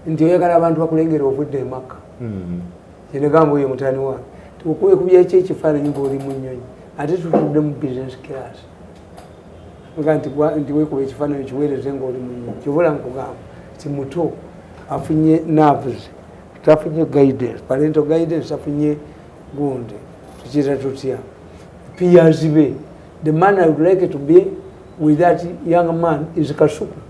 nti oyagala abantu bakulengera ovudde emakka hmm. kyenegamba oyo mutani wange tukuekubyaki ekifaananyi ngaoli mu nnyonyi ate tutudde mu business class ga nti wekuba ekifaananyi kiweereze ngaoli mu nnyonyi kyobola nkugamba ti muto afunye nerves tafunye guidance parental guidance tafunye gundi tukira tutya peers be the man i would like to be with that young man is kasuku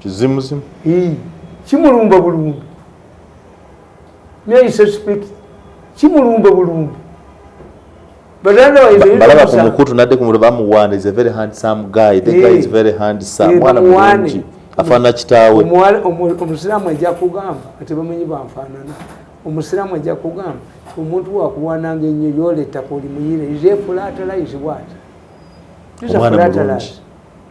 kizimuzimu kimulumba bulumbi nayisespek kimulumba bulumbi balaba ku mukutu nadde ku muliba muwaana is a very handsome guy the guy is very handsome mwana mulungi afaanana kitaawe omusiraamu ajja kugamba ati bamanyi banfaanana omusiraamu ajja kugamba omuntu wakuwananga ennyo yoleetako oli muyire is a flatalize what is a flatalize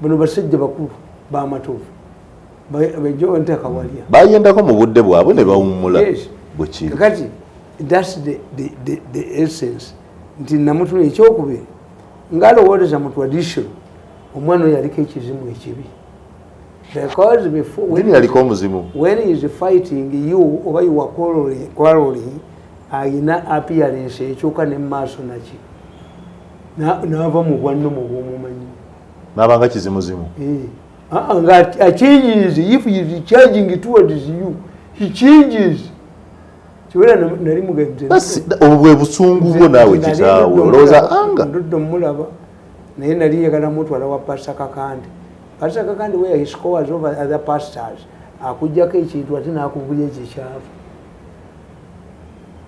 bano basajja bakulu bamatovu bejowentakawalya bayendako mu budde bwabwe ne bawummula bwekiri kati thats the, the, the, the essence nti namutuna ekyokubiri ngalowooleza mu tradition omwana oyo yaliko ekizimu ekibi because before when, yaliko omuzimu when is fighting you oba you are quarreling, quarreling ayina appearance ekyuka ne maaso naki naava mu bwanno mu bwomumanyi nabanga kizimuzimu eh. ah, nga achanges if he is charging towards you he changes obwo bwe busungu bwo naawe kitaawe olowooza anga mulaba naye nali njagala mutwala wa pasta kakande pasta kakande where he scores over other pastors akujjako ekintu ate nakubuya ekikyavu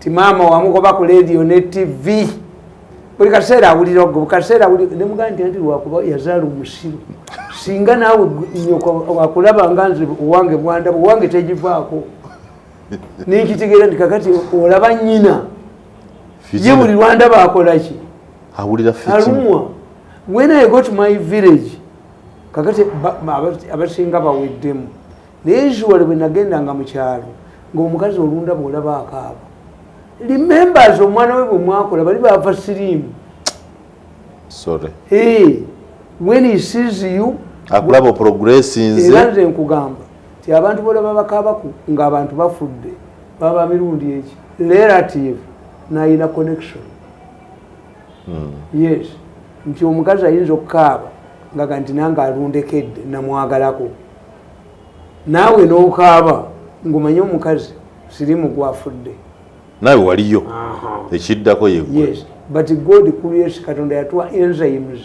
ti maama wamugoba ku leediyo ne tivi buli kaseera awulira ogwo bukaseera nemugaa nti anti lwakuba yazaala omusiru singa naawe nyoko wakulaba nga nze owange bwandaba owange tegivaako nenkitegeera nti kakati olaba nyina ye buli lwandaba akolaki alumwa when i got my village kakati abasinga baweddemu naye usually bwe nagendanga mu kyalo ng'omukazi olunda bw'olaba akaaba remembers omwana we bwe mwakola bali baava siriimu when he sees you akulaba oprogressinze era nze nkugamba nti abantu b'olaba bakaabaku ng'abantu bafudde baba mirundi eki relative nayina connection hmm. yes nti omukazi ayinza okukaaba ngaga nti nange alundekedde namwagalako naawe n'okaaba ng'omanye omukazi sirimu gwafudde naawe waliyo ekiddako yegwe but god creates katonda yatuwa enzymes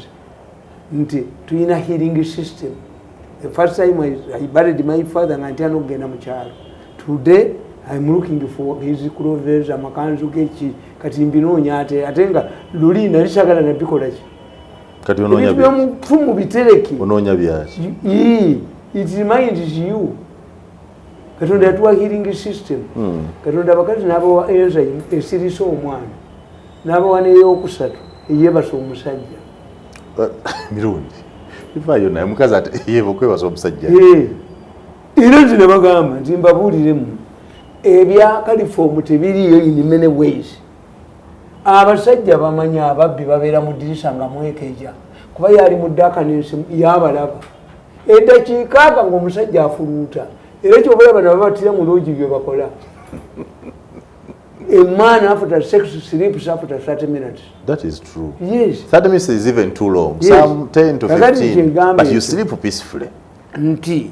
nti tulina healing system the first time I, I buried my father nga ntyana okugenda mu kyalo today im looking for his clothes amakanzu geki kati mbinoonya ate ate nga luli nali sagala nabikolaki kati onoonya byomufu mu bitereke onoonya byaki it reminds you katonda yatuwa healing system hmm. katonda abakazi n'abawa enzyme esirisa omwana n'abawa neyokusatu eyebasa omusajja mirungi ivayo naye omukazi yeva okwebasa omusajja era nti nebagamba nti mbabuuliremu ebya kalifoomu tebiriyo in many ways abasajja bamanyi ababbi babeera mu dirisa nga mwekeja kuba yali mudakaninsi yabalaba edakiikaaga ngaomusajja afuluuta era kyobalaba nababatira mu loogi byebakola a man after sex sleeps after 30 minutes. That is true. Yes. 30 minutes is even too long. Yes. Some 10 to 15. But you sleep peacefully. Nti.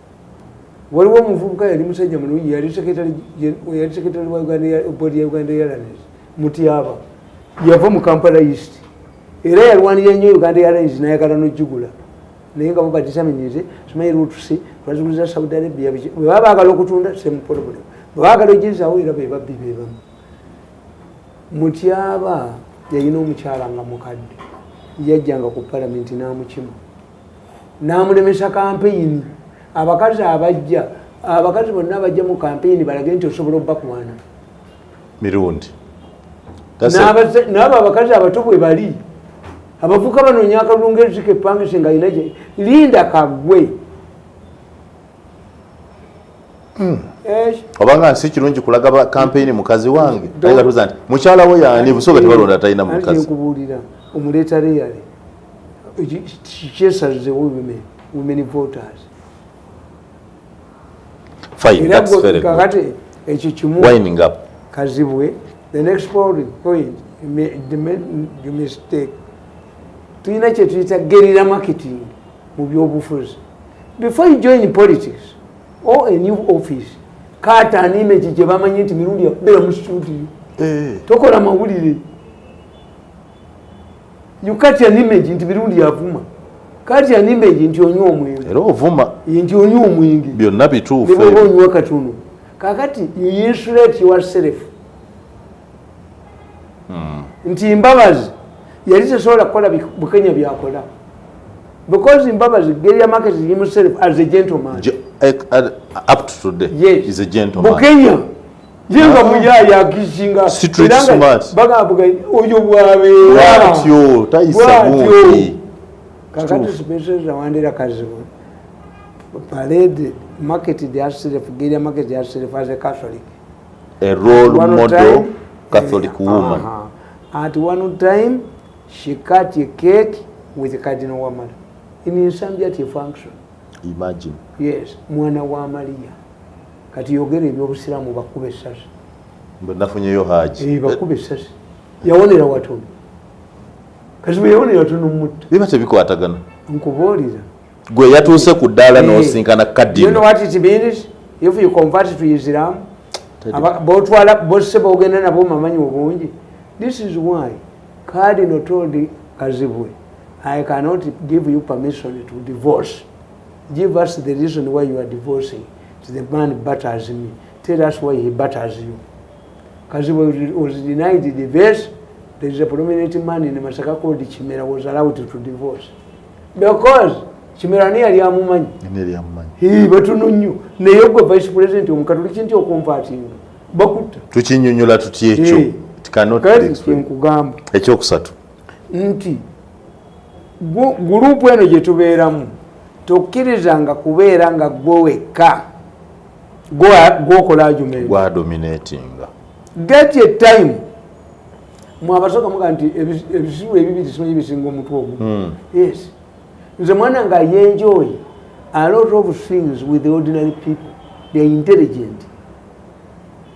waliwo omuvubuka yali musajja mulungi yali sekretary wa board ya uganda airlines mutyaba yava mu kampala east era yalwanira nnyo uganda airlines nayagala nojugula naye nga babadisamenyeze simanyi lutuse twaziguliza saudi arabia biki bwebaba bagala okutunda same problem bwebagala ojezawo era bebabbi bebamu mutyaba yalina omukyala nga mukadde yajjanga ku palamenti namukima n'amulemesa kampeyini abakazi abajja abakazi bonna abajja mu kampeyini balage nti osobola obakwana mirundi n'abo abakazi abato bwe bali abavuka banoonya akalunga ezika epangise nga alina linda kagwe hmm. obanga nsi kirungi kulaga kampeyini mukazi wange ayinza kubuza nti mukyala wo yani busoga tebalonda talina mukazi nkubuulira omuleeta reyale kyesazewo women voters kakati ekyo kimu kazibwe the next polling point the mistake tulina kyetuyita gerira marketing mu byobufuzi before you join politics or a new office kaata animegi gyebamanyi nti mirundi yakubera mu studio eh. tokola mawulire you catch an image nti mirundi yavuma kati an image nti onywa omwenge era ovuma nti onywa omwenge byonna bituufu neboba onywa katono kakati you insulate yourself hmm. nti mbabazi yali tesobola kukola bukenya byakola because mbabazi geria market himself as a gentleman up to today yes. is a gentleman bukenya ye nga muyaye agizinga bagamba oyo bwabeeratyo tayisabuuti kakati sipeseza wandera kazibu parade marketed herself geria marketed herself as a catholic a role one model time, catholic uh, woman uh -huh. at one time she cut a cake with cardinal wamala in insanity function imagine yes mwana wa maria kati yogera ebyobusiraamu bakuba essasi nafunyeyo haji eh, bakuba essasi yawonera watono kati bweyawonera watono mutta biba tebikwatagana nkubuulira gwe yatuuse ku ddaala eh, nosinkana kadinotwalitibinisifyuconverttoisiramu botwala bose bogenda nabo mamanyi obungi this is why cardinal told kazibwe i cannot give you permission to divorce give us the reason why you are divorcing the man butters me tell us why he butters you kazi was denied the best there is a prominent man in masaka called chimera was allowed to divorce because chimera ni yali amumanyi ni yali amumanyi he batuno nyo ne yogwe vice president omukatoliki nti okompatinga bakutta tukinyonyola tuti ekyo hey. cannot nkugamba ekyokusatu nti gurupu eno gyetubeeramu tokkirizanga kubeera nga gwe wekka gwokola ajumewadominatinga get a time mwabasoka muga nti ebisiru ebibiri simanyi bisinga omutwe ogu hmm. yes nze mwana nga yenjoy a lot of things with the ordinary people they're intelligent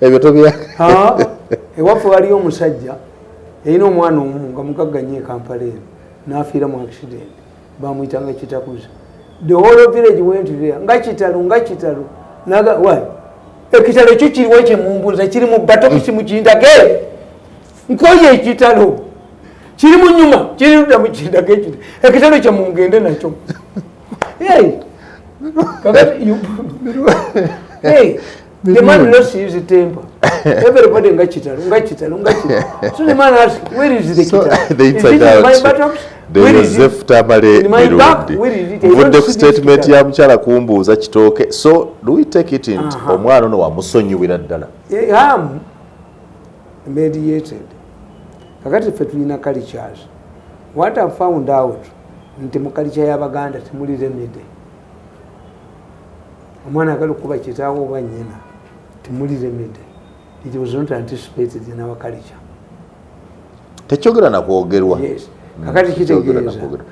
ebyo tobya ewaffe waliyo omusajja yalina omwana omu nga mugagga nyo ekampala eno nafiira mu accident bamuyitanga kitakuza the whole village went there nga kitalo nga kitalo naga why ekitalo ekyo kiriwo ekyemumbuuza kiri mu batokisi mukindage nkoye ekitalo kiri mu nyuma kiri ludda mukindage ekit ekitalo kyemungende nakyo kakati The man lost his temper. Everybody nga kitalo, nga kitalo, nga kitalo. So the man asked, where is the so kitalo? They is it out. in my buttocks? Joseph Tamale Mirundi mvudde ku statement ya mukyala kumbuuza kitooke so do we take it in omwana ono wamusonyiwira ddala am mediated kakati ffe tulina cultures what i found out nti mu culture y'abaganda temuli remedy omwana agala okukuba kitaawo oba nyina timuliremede it was not anticipated in our culture tekyogera nakwogerwa yes.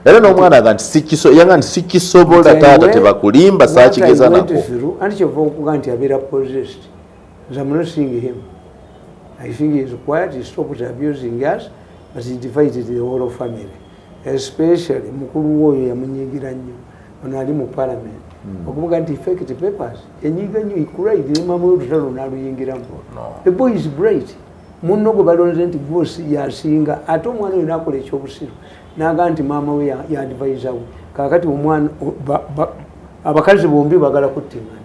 era nomwana aga nti sikisoyanga nti sikisobola taata tebakulimba sakigeza nako anti kyova okuga nti abeera possessed nze am not seeing him i think he is quiet he stopped abusing us but he divided the whole family especially mukulu we oyo yamunyigira nnyo ono ali mu parliament hmm. okuvuga nti effect papers enyiga nnyo ikuraidiremamu olutalo naluyingiramu the boy is bright munno gwe balonze nti gwosi yasinga ate omwana oyo nakola ekyobusiru naga nti maama we yadvisa we kakati omwana abakazi bombi bagala kuttingana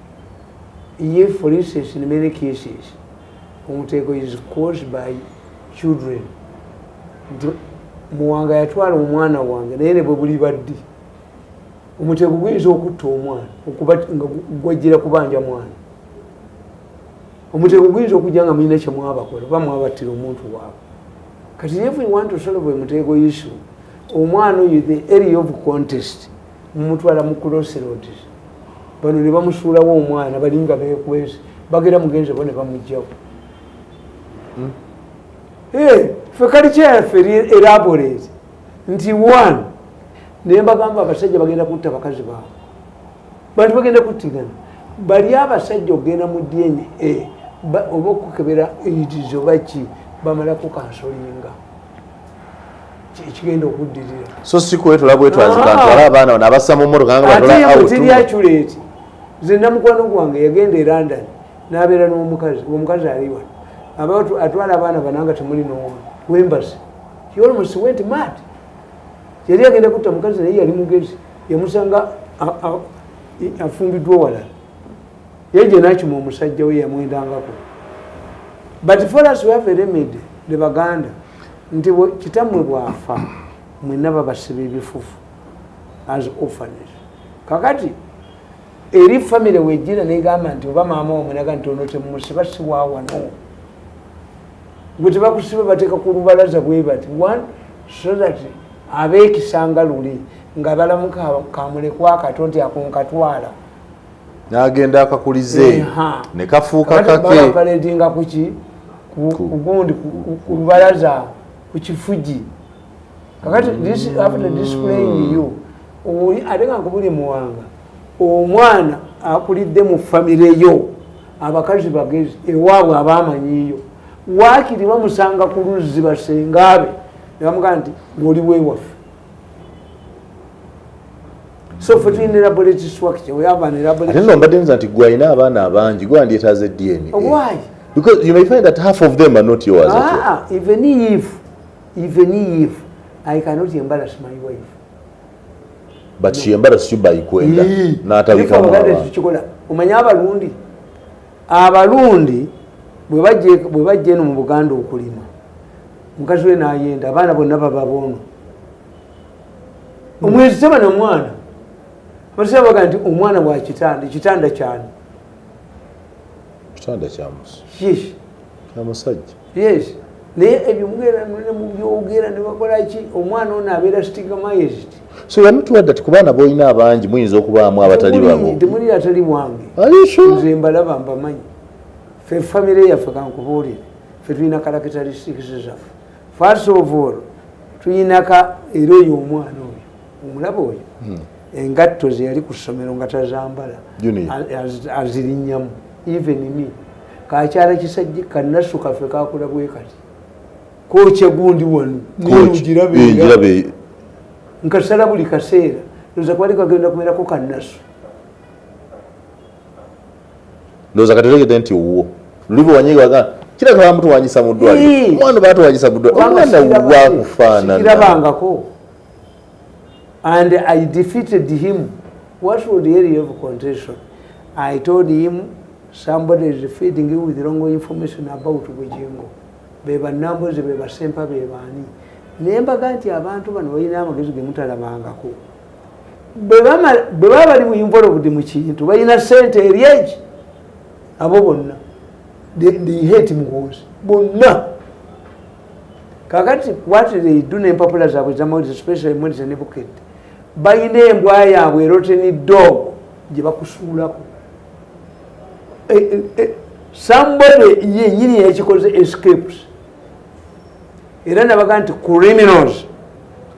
Ye for instance in many cases omutego is caused by children nti muwanga yatwala omwana wange naye ne bwe bulibaddi omutego guyinza okutta omwana okuba nga gwajjira kubanja mwana omutego guyinza okujja nga mulina kyemwabakola oba mwabattira omuntu waabwe kati if we want to solve a mutego issue omwana oyo the area of contest mumutwala mu crossroads bano ne bamusuulawo omwana balinga bekwese bagera mugenzi bo ne bamugjawo hmm? eh, fe kali kyayaffe eraborate nti one naye mbagamba abasajja bagenda kutta bakazi baabo bantu bagenda kuttigana bali abasajja okugenda mu dna oba okukebera idizo baki bamalako kansolinga ekigenda okuddirira so si kwetula bwetwazikantwala ah. abaana bano abassa mu mmotoka ngabatiri aculeti nze namukwano gwange yagenda e london nabeera n'omukazi omukazi aliwa abantu atwala abaana bana nga temuli nomu wembasi yolmost went mad yali agenda kutta mukazi naye yali mugezi yamusanga afumbiddwa walala ye jenakima omusajja we yamwendangako but for us we have a remedy the baganda nti kitamwe bwafa mwena babasiba ebifufu as orphanes kakati eri family wejira negamba nti oba maama wamunaga nti ono temusiba siwawano gwe tebakusiba bateeka ku lubalaza bwebati one so that abekisanga luli nga balamuka kamulekwa kato nti akunkatwala nagenda akakulize ne kafuuka kakepaledinga kuki kugundi kubalaza ku kifuji kakati after displaying you ate nga nkubuli muwanga omwana akulidde mu famire yo abakazi bagezi ewaabwe abamanyiyo waakiri bamusanga ku luzzi basengaabe nebamugamba nti oli wewaffe mbadde nza nti gwe alina abaana abangi gwe wandyetaaze dna because you may find that half of them are not yours ah, ah, even if even if i cannot embarrass my wife but no. she embarrass you by kwenda n'atabikamukikola omanye abalundi abalundi bwe bajja eno mu buganda okulima mukazi we nayenda abaana bonna baba boono omwezi teba na mwana amatesa baga nti omwana wa kitanda ekitanda kyani kitanda kyamusi yes amusajja yes naye ebyo mugenda ne mubyogera ne bakola ki omwana ono abeera stigmized so yamutuwa dda ti ku baana boolina abangi muyinza okubaamu abatali babo temulira atali bwange nze mbalaba mbamanyi fe famire yaffe kankubuulire fe tulina kalakitalistikisi zaffe first of all tuyinaka era oyo omwana oyo omulaba oyo hmm. engatto zeyali ku ssomero nga tazambala azirinyamu even me kakyala kisajja kanasu kaffe kakula bwe kati kokye gundi wanu nirugirabe nkasala buli kaseera oza kwali kagenda kuberako kanasu ndoza kati otegedde nti owuwo luli bwewanyiga waga kiraka bamutwanyisa mu ddwaliro omwana batwanyisa mu ddwaliro omwana wakufaananakirabangako and i defeated him what would area of contention i told him somebody is feeding you with wrong information about bujingo bebanambozi bebasempa bebaani nembaga nti abantu bano balina amagezi gemutalabangako bwebaba bali mu involved mu kintu balina sente eri egi abo bonna hate muhoozi bonna kakati what they do nempapula zaabwe zamawulire especially mweriza ne bukedde balina embwa yaabwe eroteni dog gye bakusuulako eh, eh, eh, somebody yenyini yakikoze escapes era nabaga nti criminals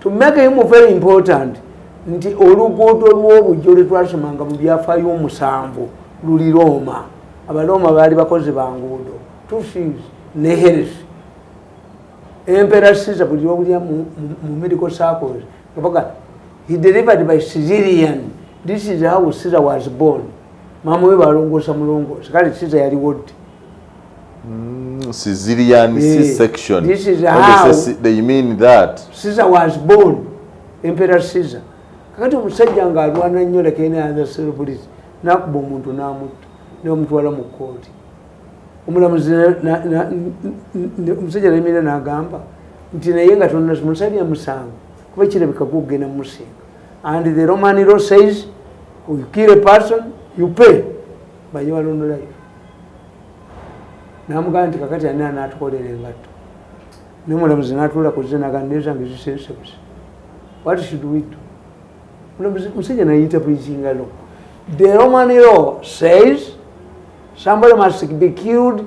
to make him very important nti oluguudo lw'obujjo lwe twasomanga mu byafaayo omusanvu luli rooma abalooma baali bakozi ba nguudo tusis ne heres empera siza buli lwobulya mu medical circles ngabaga he delivered by civilian this is how siza was born mama we balongoosa mulongoosa kale siza yaliwo ddi Mm, Caesarean yeah. C-section. This is how they, they mean that. Caesar was born, Emperor Caesar. Kakati omusajja nga alwana nnyo like any other celebrity nakuba omuntu namutta nomutwala mu kkooti omulamuzi omusajja nayimira nagamba nti naye nga tonamusalya musango kuba kirabika gugenda musinga and the roman law says you kill a person you pay Baye walondo live namugamba nti kakati ani anatukolera engatto nomulamuzi natuula kuze nagamba nezange zisensebuse what should we do mulamuzi musajja nayita preachinga law the roman law says somebody must be killed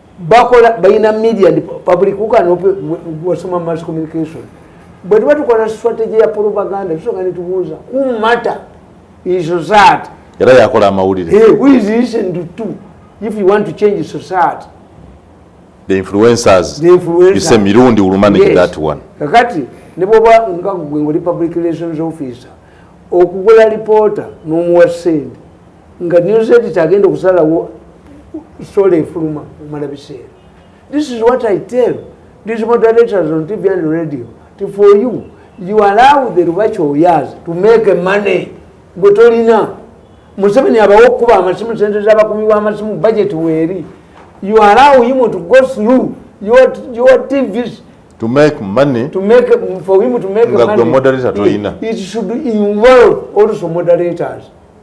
bakola balina media and public wasoma mass communication bwe tuba tukola strategy ya propaganda tusoka netubuuza who matter is society era yakola amawulire hey, who is listen to two if you want to change society the influencers the influencer. you say mirundi will manage yes. that one kakati ne bwoba nga gwe ngoli public relations officer okugula reporter n'omuwa sente nga news editor agenda okusalawo sola efuluma omala biseera this is what i tell these moderators on tv and radio to for you you allow the rubachi oyas to make money gwe tolina museveni abawo okukuba amasimu sente zabakumi bamasimu budget weeri you allow him to go through your, your tvs to make money to make for him to make money moderator toyina it should involve also moderators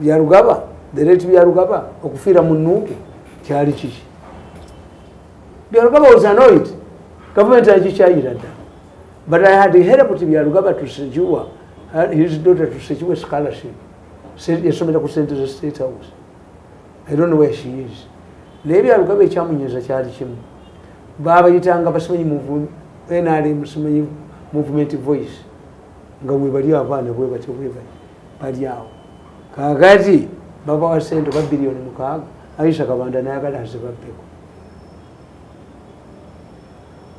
byarugaba the late byarugaba okufiira mu nuupu kyali kiki byarugaba was annoyed gavumenti agikyayira dda but i had helped byarugaba to secure uh, his daughter to secure scholarship yasomera ku sente za state house i don't know where she is naye byarugaba ekyamunyeza kyali kimu baabayitanga basimanyi nrm simanyi movement voice nga webali abaana bwebatyo bwebali bali awo kakati babawa sente ba biliyoni mukaaga aisha kabanda nayagala azibabbeko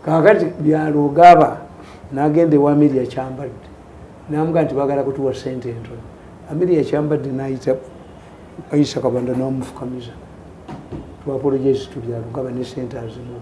kakati byalogaba nagenda ewa amiri yakyambadde namuga nti bagala kutuwa sente entono amiri yakyambadde nayita aisha kabanda namufukamiza twapolojezi tubyalogaba ne sente azimuwa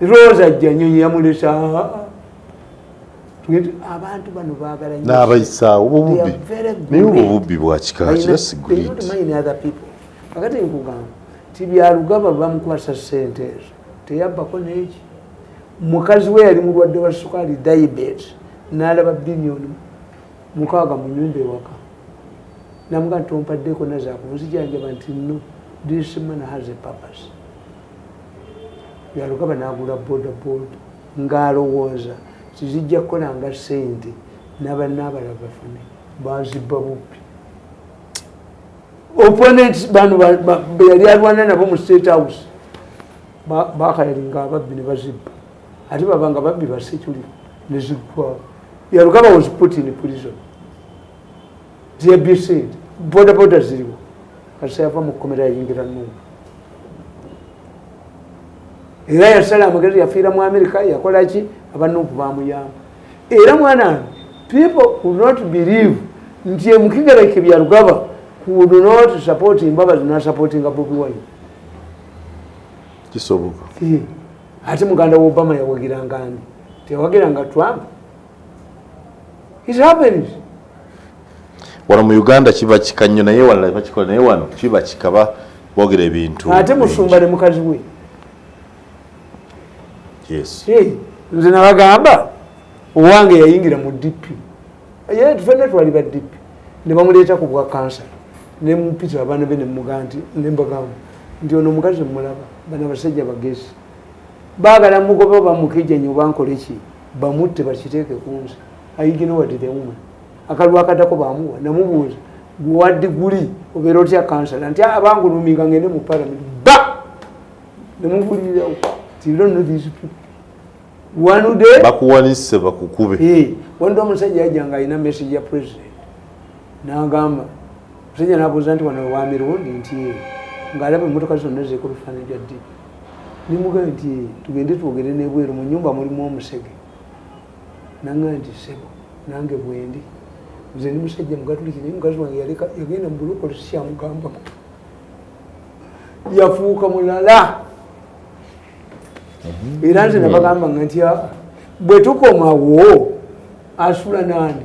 rosa janyonyi yamulesa abantu bano bagala nabayisaawo bububi naye obwo bubbi bwakikakati nkugamba ti byalugaba bamukwasa sente ezo teyabbako neki mukazi we yali mulwadde wa sukaali diabet nalaba biliyoni mukaaga mu nyumba ewaka namuga nti ompaddeko nazakunzijanjaba nti no this man has a purpose byalugaba n'agula bodaboda ng'alowooza tizijja kukolanga ssente n'abanna abalala bafune bazibba bubbi opponent bano beyali alwana nabo mu state house bakayalinga ababbi ne bazibba ate babanga babbi ba security ne ziggwawo yalugaba was put in prison zeyabye sente bodaboda ziriwo kasita yava mu kkomera yayingira nungu era yasala amagezi yafiira mu amerika yakolaki abanuupu bamuyamba era mwana people will not believe nti emukigereke byalugaba could not support mbabazi nasupportinga bobi wine kisoboka ate muganda wa obama yawagiranga ani teyawagiranga trump It happens. Wano mu Uganda kiba kika nnyo naye wala bakikola naye wano kiba kika ba bogera ebintu. Ate musumba ne mukazi we. Yes. Hey, nze nabagamba owange yayingira mu DP. Yeye tufende twali ba DP. Ne bamuleeta ku bwa kansa. Ne mpita abana be ne muganti ne mbagamba nti ono mukazi mulaba bana basajja bagezi. Baagala mugobe bamukeje nyo bankoleki. bamutte bakiteeke kunze aiginowadidemuma akalwa akadako bamuwa namubuuza gwa diguli obeera otya kansala nti ah, abanguluminga ngende mu palamenti ba nemubulirirawo bakuwanise bakukube eh, wandi omusajja yajanga alina message ya president nagamba musajja nabuuza nti wano wamirundi nti eh, ngaalaba emotoka zonna zekobifaananyi bya ddi Nimugambye nti tugende twogere n'ebweru mu nyumba mulimu omusege. Nangambye nti sebo nange bwendi. Nze ndi musajja mugatuliki naye mukazi wange yaleka yagenda mu bulokole sikyamugambako. Yafuuka mulala. Era nze nabagamba nga nti bwe tukomawo asula nani.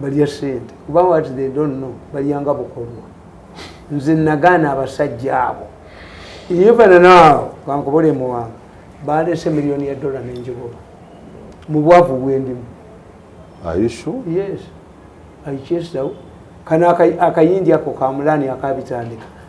balya sente kuba wat they don't know balyanga bukolwa nze nagaana abasajja abo ivananaawo kankubole muwanga balese miliyoni ya dola nenjigoba mu bwavu bwendimu yes aichesawo kana akayindi ako kamulani akabitandika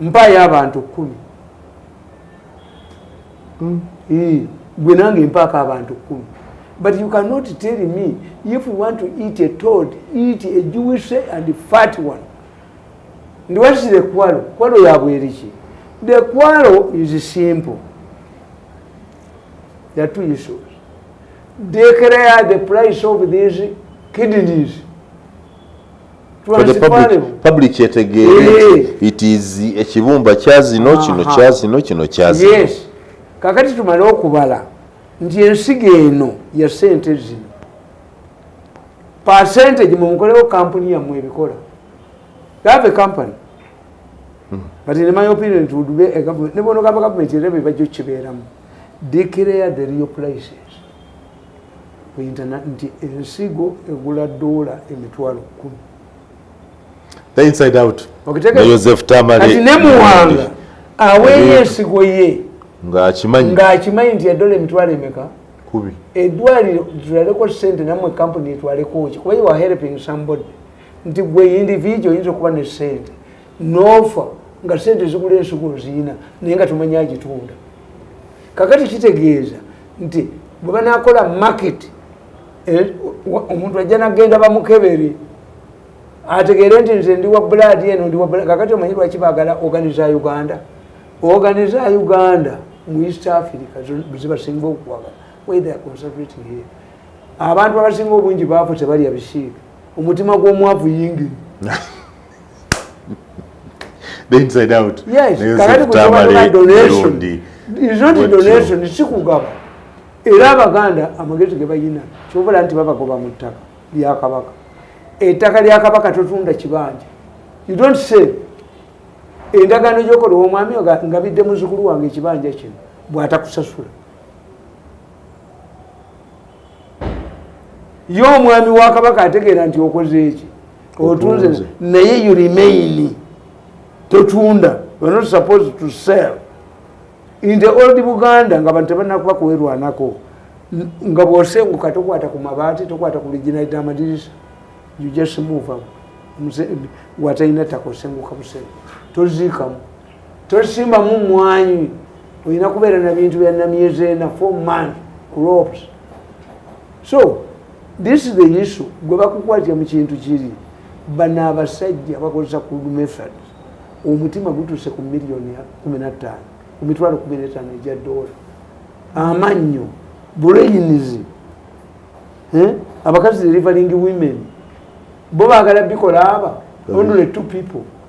mpaayo abantu kkumi hmm. eh, gwe nange mpaako abantu kkumi but you cannot tell me if you want to eat a toad eat a jewish and fat one ndi what is the kwalo kwalo yabweriki the kwalo is simple there are two issues declare the price of these kidneys public etegeere it is ekibumba kyazino kino kyazino kino kyazino yes kakati tumale okubala nti ensigo eno ya sente zino percentage mumukolewo kampuni yammwe ebikola have a company hmm. but in my opinion it would be a government ne bono gava government era bebajo kibeeramu declare the real places ku internet nti ensigo egula dola emitwalo kumi the inside out joseph tamale ne muwanga aweeyo ensigo ye ng'akimanyi ng'akimanyi nti yadola emitwalo emeka kubi edwaliro tulaleko sente namwe kampuni etwaleko ki kuba you are helping somebody nti gwe individual oyinza okuba ne sente nofa nga sente zigula ensigo ziyina naye nga tumanya agitunda kakati kitegeeza nti bwe banakola market eh, omuntu ajja nagenda bamukebere ategeere nti nze ndi wa buladi eno ndi kakati omanyi lwaki bagala oganiza uganda oganiza uganda mu east africa zibasinga okuwagala whether conservating here abantu abasinga obungi baafu tebalya bisiika omutima gw'omwavu yingini the inside out yes kakati kutabala donation is not a donation sikugaba era abaganda amagezi ge bayina kyobola nti babagoba mu ttaka lya kabaka ettaka lya kabaka totunda kibanja you don't say endagaano gyokola omwami nga bidde muzukulu wange ekibanja kino bwatakusasula ye omwami wa kabaka ategeera nti okoze eki otunze naye you remain totunda we're not supposed to sell in the old buganda nga bantu tebanakuba kuwerwanako nga bwosenguka tokwata ku mabaati tokwata ku liginali damadirisa you just move up watalina takosenguka busengu toziikamu tosimamu mwanyi olina kubeera na bintu bya namyezi ena four month crops so this is the issue gwe bakukwatira mu kintu kiri bano abasajja bakozesa ku method omutima gutuuse ku miliyoni kumi na ttaano ku mitwalo kumi n'etaano egya doola amannyo buleyinizi eh? abakazi deliverying women bo baagala bikola aba only two people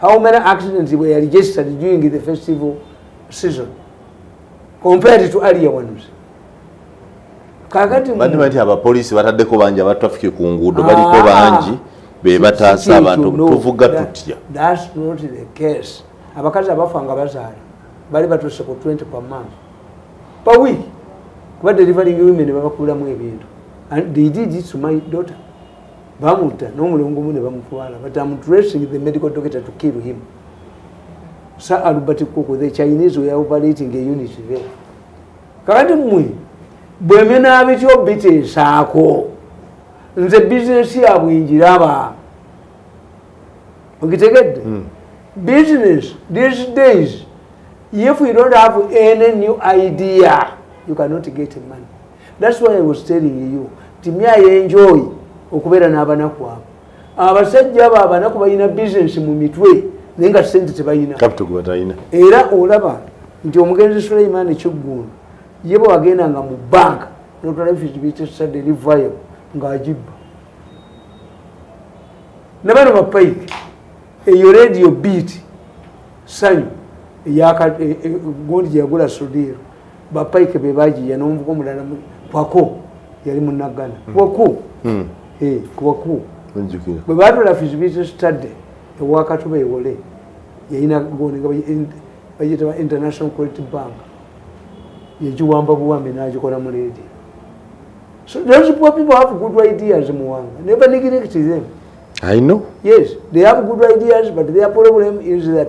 how many accidents were registered during the festival season compared to earlier ones kakati bandiba nti abapoliisi bataddeko bangi aba traffic ku nguudo baliko ah, bangi be bataasa abantu tuvuga tutya that's not the case abakazi abafa nga bazaala bali batuuse ku 20 per month per week kuba delivering women babakuulamu ebintu and they did it to my daughter bamutta n'omulongo mu ne bamutwala but am dressing the medical doctor to kill him sa albert kuku the chinese were operating a unit there kakati mmwe bwemena bityo biteesaako nze bizinesi yabwe njiraba okitegedde hmm. business these days if you don't have any new idea you cannot get money That's why I was telling you nti me I enjoy okubeera n'abanaku abo abasajja abo abanaku balina bizinesi mu mitwe naye nga sente tebalina era olaba nti omugenzi suleiman kiggundu ye bwe wagendanga mu banka notwalabifisibitesadelivayo ng'agibba nabano bapayike eyo radio beat sanyu e, e, gundi gyeyagula sudiiro bapaike bebagiya nomuvuka omulala kwako yali munagana hmm. kwaku hmm. eh, kwaku bwe batula fisibizi stade ewakatuba ewole yayina goni nga bagiyitaba international quality bank yegiwamba buwambi nagikola mu leedi so those poor people have good ideas muwanga never neglect them i know yes they have good ideas but their problem is that